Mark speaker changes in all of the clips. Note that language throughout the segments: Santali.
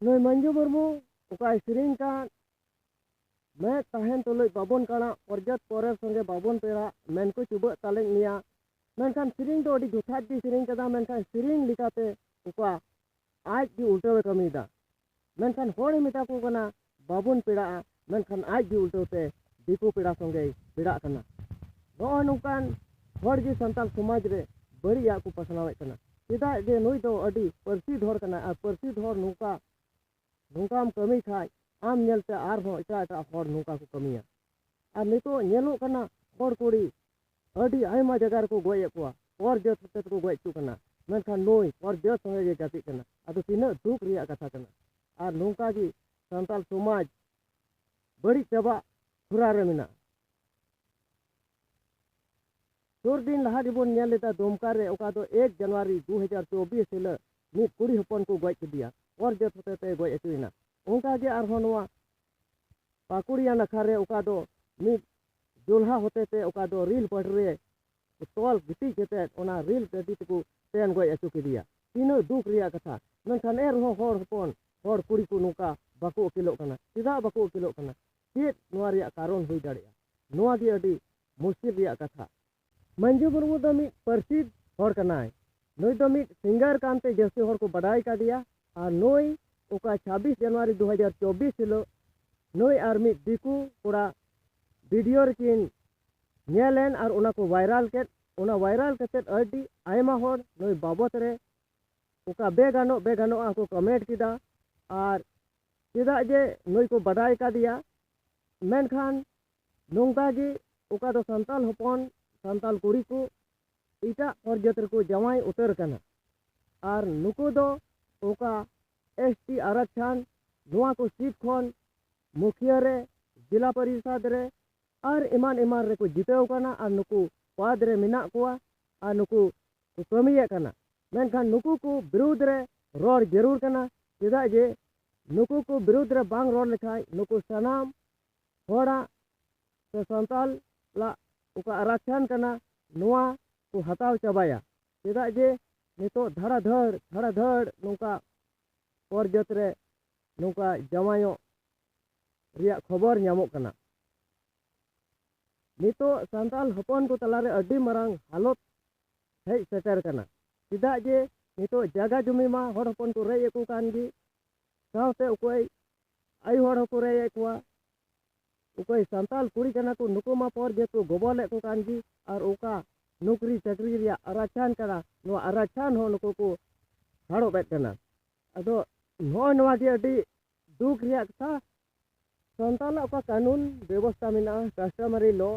Speaker 1: ᱱᱩᱭ ᱢᱟᱹᱱᱡᱩ ᱢᱩᱨᱢᱩ ᱚᱠᱟᱭ ᱥᱮᱨᱮᱧ ᱠᱟᱱ ᱢᱮᱫ ᱛᱟᱦᱮᱱ ᱛᱩᱞᱩᱡ ᱵᱟᱵᱚᱱ ᱠᱟᱬᱟ ᱯᱚᱨᱡᱟᱛ ᱯᱚᱨᱮᱨ ᱥᱚᱸᱜᱮ ᱵᱟᱵᱚᱱ ᱯᱮᱲᱟ ᱢᱮᱱ ᱠᱚ ᱪᱩᱵᱟᱹᱜ ᱛᱟᱞᱮᱧ ᱢᱮᱭᱟ ᱢᱮᱱᱠᱷᱟᱱ ᱥᱮᱨᱮᱧ ᱫᱚ ᱟᱹᱰᱤ ᱡᱚᱛᱷᱟᱛ ᱜᱮ ᱥᱮᱨᱮᱧ ᱠᱟᱫᱟ ᱢᱮᱱᱠᱷᱟᱱ ᱥᱮᱨᱮᱧ ᱞᱮᱠᱟᱛᱮ ᱚᱠᱟ ᱟᱡ ᱜᱮ ᱩᱞᱴᱟᱹᱣᱮ ᱠᱟᱹᱢᱤᱭᱮᱫᱟ ᱢᱮᱱᱠᱷᱟᱱ ᱦᱚᱲᱮ ᱢᱮᱛᱟ ᱠᱚ ᱠᱟᱱᱟ ᱵᱟᱵᱚᱱ ᱯᱮᱲᱟᱜᱼᱟ ᱢᱮᱱᱠᱷᱟᱱ ᱟᱡ ᱜᱮ ᱩᱞᱴᱟᱹᱣ ᱛᱮ ᱫᱤᱠᱩ ᱯᱮᱲᱟ ᱥᱚᱸᱜᱮᱭ ᱯᱮᱲᱟᱜ ᱠᱟᱱᱟ ᱱᱚᱜᱼᱚᱭ ᱱᱚᱝᱠᱟᱱ ᱦᱚᱲ ᱜᱮ ᱥᱟᱱᱛᱟᱲ ᱥᱚᱢᱟᱡᱽ ᱨᱮ ᱵᱟᱹᱲᱤᱡᱟᱜ ᱠᱚ ᱯᱟᱥᱱᱟᱣᱮᱫ ᱠᱟᱱᱟ ᱪᱮᱫᱟᱜ ᱡᱮ ᱱᱩᱭ ᱫᱚ ᱟᱹᱰᱤ ᱯᱟᱹᱨᱥᱤᱫ ᱦᱚᱲ ᱠᱟᱱᱟᱭ ᱟᱨ ᱯᱟᱹᱨᱥᱤᱫ ᱦᱚᱲ ᱱᱚᱝᱠᱟ ᱱᱚᱝᱠᱟᱢ ᱠᱟᱹᱢᱤ ᱠᱷᱟᱡ ᱟᱢ ᱧᱮᱞᱛᱮ ᱟᱨᱦᱚᱸ ᱮᱴᱟᱜ ᱮᱴᱟᱜ ᱦᱚᱲ ᱱᱚᱝᱠᱟ ᱠᱚ ᱠᱟᱹᱢᱤᱭᱟ ᱟᱨ ᱱᱤᱛᱚᱜ ᱧᱮᱞᱚᱜ ᱠᱟᱱᱟ ᱦᱚᱲ ᱠᱩᱲᱤ ᱟᱹᱰᱤ ᱟᱭᱢᱟ ᱡᱟᱭᱜᱟ ᱨᱮᱠᱚ ᱜᱚᱡ ᱮᱫ ᱠᱚᱣᱟ ᱦᱚᱲ ᱡᱟᱹᱛ ᱦᱚᱛᱮ ᱛᱮᱠᱚ ᱜᱚᱡ ᱦᱚᱪᱚ ᱠᱟᱱᱟ ᱢᱮᱱᱠᱷᱟᱱ ᱱᱩᱭ ᱦᱚᱲ ᱡᱟᱹᱛ ᱥᱚᱸᱜᱮ ᱜᱮ ᱜᱟᱛᱮᱜ ᱠᱟᱱᱟ ᱟᱫᱚ ᱛᱤᱱᱟᱹᱜ ᱫᱩᱠ ᱨᱮᱭᱟᱜ ᱠᱟᱛᱷᱟ ᱠᱟᱱᱟ ᱟᱨ ᱱᱚᱝᱠᱟ ᱜᱮ ᱥᱟᱱᱛᱟᱲ ᱥᱚᱢᱟᱡᱽ ᱵᱟᱹᱲᱤᱡ ᱪᱟᱵᱟᱜ ᱦᱚᱨᱟ ᱨᱮ ᱢᱮᱱᱟᱜᱼᱟ ᱥᱩᱨ ᱫᱤᱱ ᱞᱟᱦᱟ ᱜᱮᱵᱚᱱ ᱧᱮᱞ ᱞᱮᱫᱟ ᱫᱩᱢᱠᱟ ᱨᱮ ᱚᱠᱟ ᱫᱚ ᱮᱠ ᱡᱟᱱᱩᱣᱟᱨᱤ ᱫᱩ ᱦᱟᱡᱟᱨ ᱪᱚᱵᱵᱤᱥ ᱦᱤᱞᱳᱜ ᱢᱤᱫ ᱠᱩᱲᱤ ᱦᱚᱯᱚᱱ ᱠᱚ ᱜᱚᱡ ᱠᱮᱫᱮᱭᱟ ᱦᱚᱲ ᱡᱟᱹᱛ ᱦᱚᱛᱮ ᱛᱮ ᱜᱚᱡ ᱦᱚᱪᱚᱭᱮᱱᱟ ᱚᱱᱠᱟ ᱜᱮ ᱟᱨᱦᱚᱸ ᱱᱚᱣᱟ ᱯᱟᱠᱩᱲᱤᱭᱟ ᱱᱟᱠᱷᱟ ᱨᱮ ᱚᱠᱟ ᱫᱚ ᱢᱤᱫ ᱡᱚᱞᱦᱟ ᱦᱚᱛᱮ ᱛᱮ ᱚᱠᱟ ᱫᱚ ᱨᱤᱞ ᱯᱟᱹᱰ ᱨᱮ ᱛᱚᱞ ᱜᱤᱛᱤᱡ ᱠᱟᱛᱮᱫ ᱚᱱᱟ ᱨᱤᱞ ᱜᱟᱹᱰᱤ ᱛᱮᱠᱚ ᱛᱮᱱ ᱜᱚᱡ ᱟᱹᱪᱩ ᱠᱮᱫᱮᱭᱟ ᱛᱤᱱᱟᱹᱜ ᱫᱩᱠ ᱨᱮᱭᱟᱜ ᱠᱟᱛᱷᱟ ᱢᱮᱱᱠᱷᱟᱱ ᱮᱱ ᱨᱮᱦᱚᱸ ᱦᱚᱲ ᱦᱚᱯᱚᱱ ᱦᱚᱲ ᱠᱩᱲᱤ ᱠᱚ ᱱᱚᱝᱠᱟ ᱵᱟᱠᱚ ᱟᱹᱠᱤᱞᱚᱜ ᱠᱟᱱᱟ ᱪᱮᱫᱟᱜ ᱵᱟᱠᱚ ᱟᱹᱠᱤᱞᱚᱜ ᱠᱟᱱᱟ ᱪᱮᱫ ᱱᱚᱣᱟ ᱨᱮᱭᱟᱜ ᱠᱟᱨᱚᱱ ᱦᱩᱭ ᱫᱟᱲᱮᱭᱟᱜᱼᱟ ᱱᱚᱣᱟ ᱜᱮ ᱟᱹᱰᱤ ᱢᱩᱥᱠᱤᱞ ᱨᱮᱭᱟᱜ ᱠᱟᱛᱷᱟ ᱢᱟᱹᱱᱡᱩ ᱢᱩᱨᱢᱩ ᱫᱚ ᱢᱤᱫ ᱯᱟᱹᱨᱥᱤ ᱦᱚᱲ ᱠᱟᱱᱟᱭ ᱱᱩᱭ ᱫᱚ ᱢᱤᱫ ᱥᱤᱝᱜᱟᱨ ᱠᱟᱱᱛᱮ ᱡᱟᱹᱥᱛᱤ ᱦᱚᱲ ᱠᱚ ᱵᱟᱰᱟᱭ ᱠᱟᱫᱮᱭᱟ ᱟᱨ ᱱᱩᱭ ᱚᱠᱟ ᱪᱷᱟᱵᱵᱤᱥ ᱡᱟᱱᱩᱣᱟᱨᱤ ᱫᱩ ᱦᱟᱡᱟᱨ ᱪᱚᱵᱵᱤᱥ ᱦᱤᱞᱳᱜ ᱱᱩᱭ ᱟᱨ ᱢᱤᱫ ᱫᱤᱠᱩ ᱠᱚᱲᱟ ᱵᱷᱤᱰᱤᱭᱳ ᱨᱮᱠᱤᱱ ᱧᱮᱞᱮᱱ ᱟᱨ ᱚᱱᱟ ᱠᱚ ᱵᱷᱟᱭᱨᱟᱞ ᱠᱮᱫ ᱚᱱᱟ ᱵᱷᱟᱭᱨᱟᱞ ᱠᱟᱛᱮᱫ ᱟᱹᱰᱤ ᱟᱭᱢᱟ ᱦᱚᱲ ᱱᱩᱭ ᱵᱟᱵᱚᱛ ᱨᱮ ᱚᱠᱟ ᱵᱮᱜᱟᱱᱚᱜ ᱵᱮᱜᱟᱱᱚᱜ ᱟᱠᱚ ᱠᱚᱢᱮᱱᱴ ᱠᱮᱫᱟ ᱟᱨ ᱪᱮᱫᱟᱜ ᱡᱮ ᱱᱩᱭ ᱠᱚ ᱵᱟᱰᱟᱭ ᱠᱟᱫᱮᱭᱟ ᱢᱮᱱᱠᱷᱟᱱ ᱱᱚᱝᱠᱟ ᱜᱮ ᱚᱠᱟ ᱫᱚ ᱥᱟᱱᱛᱟᱞ ᱦᱚᱯᱚᱱ ᱥᱟᱱᱛᱟᱞ ᱠᱩᱲᱤ ᱠᱚ ᱮᱴᱟᱜ ᱯᱚᱨᱡᱟᱹᱛ ᱨᱮᱠᱚ ᱡᱟᱶᱟᱭ ᱩᱛᱟᱹᱨ ᱠᱟᱱᱟ ᱟᱨ ᱱᱩᱠᱩ ᱫᱚ ᱚᱠᱟ ᱮᱥ ᱴᱤ ᱟᱨᱟᱠᱪᱷᱟᱱ ᱱᱚᱣᱟ ᱠᱚ ᱥᱤᱴ ᱠᱷᱚᱱ ᱢᱩᱠᱷᱤᱭᱟᱹ ᱨᱮ ᱡᱮᱞᱟ ᱯᱚᱨᱤᱥᱚᱫᱽ ᱨᱮ ᱟᱨ ᱮᱢᱟᱱ ᱮᱢᱟᱱ ᱨᱮᱠᱚ ᱡᱤᱛᱟᱹᱣ ᱠᱟᱱᱟ ᱟᱨ ᱱᱩᱠᱩ ᱯᱟᱫᱽ ᱨᱮ ᱢᱮᱱᱟᱜ ᱠᱚᱣᱟ ᱟᱨ ᱱᱩᱠᱩ ᱠᱚ ᱠᱟᱹᱢᱤᱭᱮᱫ ᱠᱟᱱᱟ ᱢᱮᱱᱠᱷᱟᱱ ᱱᱩᱠᱩ ᱠᱚ ᱵᱤᱨᱩᱫᱽ ᱨᱮ ᱨᱚᱲ ᱡᱟᱹᱨᱩᱲ ᱠᱟᱱᱟ ᱪᱮᱫᱟᱜ ᱡᱮ ᱱᱩᱠᱩ ᱠᱚ ᱵᱤᱨᱩᱫᱽ ᱨᱮ ᱵᱟᱝ ᱨᱚᱲ ᱞᱮᱠᱷᱟᱱ ᱱᱩᱠᱩ ᱥᱟᱱᱟᱢ ᱦᱚᱲᱟᱜ ᱥᱮ ᱥᱟᱱᱛᱟᱞ ᱞᱟᱜ ᱚᱠᱟ ᱟᱨᱟᱠᱪᱷᱟᱱ ᱠᱟᱱᱟ ᱱᱚᱣᱟ ᱠᱚ ᱦᱟᱛᱟᱣ ᱪᱟᱵᱟᱭᱟ ᱪᱮᱫᱟᱜ ᱡᱮ ᱱᱤᱛᱚᱜ ᱫᱷᱟᱲᱟ ᱫᱷᱟᱹᱲ ᱫᱷᱟᱲᱟ ᱫᱷᱟᱹᱲ ᱱᱚᱝᱠᱟ ᱯᱚᱨ ᱡᱟᱹᱛ ᱨᱮ ᱱᱚᱝᱠᱟ ᱡᱟᱶᱟᱭᱚᱜ ᱨᱮᱭᱟᱜ ᱠᱷᱚᱵᱚᱨ ᱧᱟᱢᱚᱜ ᱠᱟᱱᱟ ᱱᱤᱛᱚᱜ ᱥᱟᱱᱛᱟᱞ ᱦᱚᱯᱚᱱ ᱠᱚ ᱛᱟᱞᱟᱨᱮ ᱟᱹᱰᱤ ᱢᱟᱨᱟᱝ ᱦᱟᱞᱚᱛ ᱦᱮᱡ ᱥᱮᱴᱮᱨ ᱠᱟᱱᱟ ᱪᱮᱫᱟᱜ ᱡᱮ ᱱᱤᱛᱚᱜ ᱡᱟᱭᱜᱟ ᱡᱚᱢᱤ ᱢᱟ ᱦᱚᱲ ᱦᱚᱯᱚᱱ ᱠᱚ ᱨᱮᱡ ᱮᱫ ᱠᱚ ᱠᱟᱱ ᱜᱮ ᱥᱟᱶᱛᱮ ᱚᱠᱚᱭ ᱟᱭᱳ ᱦᱚᱲ ᱦᱚᱸᱠᱚ ᱨᱮᱡᱮᱫ ᱠᱚᱣᱟ ᱚᱠᱚᱭ ᱥᱟᱱᱛᱟᱲ ᱠᱩᱲᱤ ᱠᱟᱱᱟ ᱠᱚ ᱱᱩᱠᱩ ᱢᱟ ᱯᱚᱨ ᱡᱮᱦᱮᱛᱩ ᱜᱚᱵᱚᱞᱮᱫ ᱠᱚ ᱠᱟᱱ ᱜᱮ ᱟᱨ ᱚᱠᱟ ᱱᱚᱠᱨᱤ ᱪᱟᱹᱠᱨᱤ ᱨᱮᱭᱟᱜ ᱟᱨᱟᱪᱷᱟᱱ ᱠᱟᱱᱟ ᱱᱚᱣᱟ ᱟᱨᱟᱪᱷᱟᱱ ᱦᱚᱸ ᱱᱩᱠᱩ ᱠᱚ ᱦᱟᱲᱚᱵᱮᱫ ᱠᱟᱱᱟ ᱟᱫᱚ ᱱᱚᱜᱼᱚᱭ ᱱᱚᱣᱟ ᱜᱮ ᱟᱹᱰᱤ ᱫᱩᱠ ᱨᱮᱭᱟᱜ ᱠᱟᱛᱷᱟ ᱥᱟᱱᱛᱟᱲᱟᱜ ᱚᱠᱟ ᱠᱟᱹᱱᱩᱱ ᱵᱮᱵᱚᱥᱛᱟ ᱢᱮᱱᱟᱜᱼᱟ ᱠᱟᱥᱴᱚᱢᱟᱨᱤ ᱞᱚ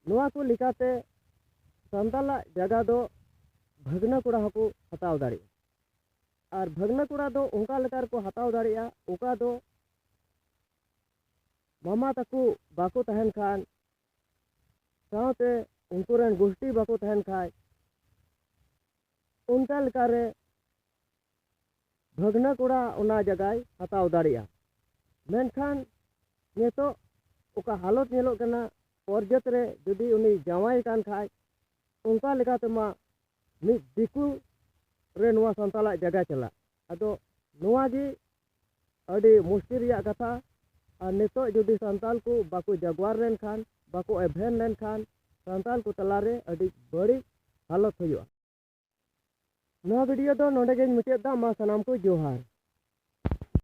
Speaker 1: ᱱᱚᱣᱟ ᱠᱚ ᱞᱮᱠᱟᱛᱮ ᱥᱟᱱᱛᱟᱲᱟᱜ ᱡᱟᱭᱜᱟ ᱫᱚ ᱵᱷᱟᱹᱜᱽᱱᱟᱹ ᱠᱚᱲᱟ ᱦᱚᱸᱠᱚ ᱦᱟᱛᱟᱣ ᱫᱟᱲᱮᱭᱟᱜᱼᱟ ᱟᱨ ᱵᱷᱟᱹᱜᱽᱱᱟᱹ ᱠᱚᱲᱟ ᱫᱚ ᱚᱱᱠᱟ ᱞᱮᱠᱟ ᱨᱮᱠᱚ ᱦᱟᱛᱟᱣ ᱫᱟᱲᱮᱭᱟᱜᱼᱟ ᱚᱠᱟ ᱫᱚ ᱢᱟᱢᱟ ᱛᱟᱠᱚ ᱵᱟᱠᱚ ᱛᱟᱦᱮᱱ ᱠᱷᱟᱱ ᱥᱟᱶᱛᱮ ᱩᱱᱠᱩ ᱨᱮᱱ ᱜᱩᱥᱴᱤ ᱵᱟᱠᱚ ᱛᱟᱦᱮᱱ ᱠᱷᱟᱱ ᱚᱱᱠᱟ ᱞᱮᱠᱟ ᱨᱮ ᱵᱷᱟᱹᱜᱽᱱᱟᱹ ᱠᱚᱲᱟ ᱚᱱᱟ ᱡᱟᱭᱜᱟᱭ ᱦᱟᱛᱟᱣ ᱫᱟᱲᱮᱭᱟᱜᱼᱟ ᱢᱮᱱᱠᱷᱟᱱ ᱱᱤᱛᱚᱜ ᱚᱠᱟ ᱦᱟᱞᱚᱛ ᱧᱮᱞᱚᱜ ᱠᱟᱱᱟ ᱯᱚᱨᱡᱟᱹᱛ ᱨᱮ ᱡᱩᱫᱤ ᱩᱱᱤ ᱡᱟᱶᱟᱭ ᱠᱟᱱ ᱠᱷᱟᱡ ᱚᱱᱠᱟ ᱞᱮᱠᱟᱛᱮᱢᱟ ᱢᱤᱫ ᱫᱤᱠᱩ ᱨᱮ ᱱᱚᱣᱟ ᱥᱟᱱᱛᱟᱲᱟᱜ ᱡᱟᱭᱜᱟ ᱪᱟᱞᱟᱜ ᱟᱫᱚ ᱱᱚᱣᱟ ᱜᱮ ᱟᱹᱰᱤ ᱢᱩᱥᱠᱤᱞ ᱨᱮᱭᱟᱜ ᱠᱟᱛᱷᱟ ᱟᱨ ᱱᱤᱛᱚᱜ ᱡᱩᱫᱤ ᱥᱟᱱᱛᱟᱲ ᱠᱚ ᱵᱟᱠᱚ ᱡᱟᱜᱽᱣᱟᱨ ᱞᱮᱱᱠᱷᱟᱱ ᱵᱟᱠᱚ ᱮᱵᱷᱮᱱ ᱞᱮᱱᱠᱷᱟᱱ ᱥᱟᱱᱛᱟᱲ ᱠᱚ ᱛᱟᱞᱟᱨᱮ ᱟᱹᱰᱤ ᱵᱟᱹᱲᱤᱡ ᱦᱟᱞᱚᱛ ᱦᱩᱭᱩᱜᱼᱟ ᱱᱚᱣᱟ ᱵᱷᱤᱰᱤᱭᱳ ᱫᱚ ᱱᱚᱰᱮ ᱜᱮᱧ ᱢᱩᱪᱟᱹᱫ ᱮᱫᱟ ᱢᱟ ᱥᱟᱱᱟᱢ ᱠᱚ ᱡᱚᱦᱟᱨ